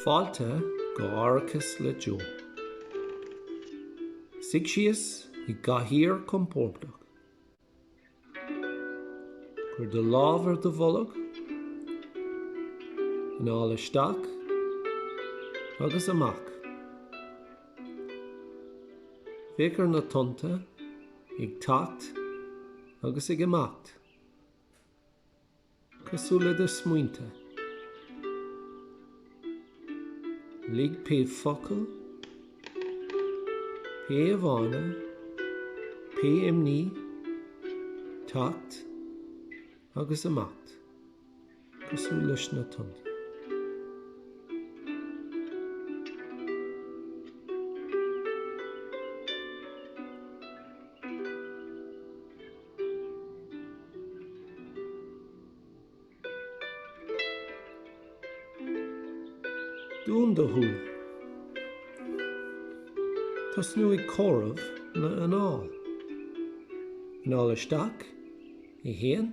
Fáilte go Aireachas le Joe. Suigh síos i gcathaoir chompordach. Cuir do lámh ar do bholg. Anáil isteach agus amach. Féach ar na tonnta ag teacht agus ag imeacht. Cosúil le do smaointe, lig pé focal, pé íomhá, pé imní, teacht agus imeacht, cosúil leis na tonnta. Dún do shúile. Tosnaigh ag comhaireamh na n-anál. Anáil isteach, 1.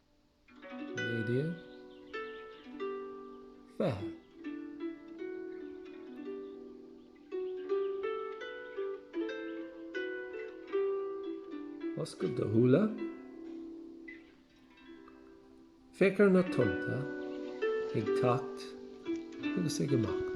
19, 20. Oscail do shúile. Féach ar na tonnta ag teacht agus ag imeacht.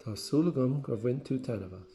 Tá súil agam gur bhain tú taitneamh as.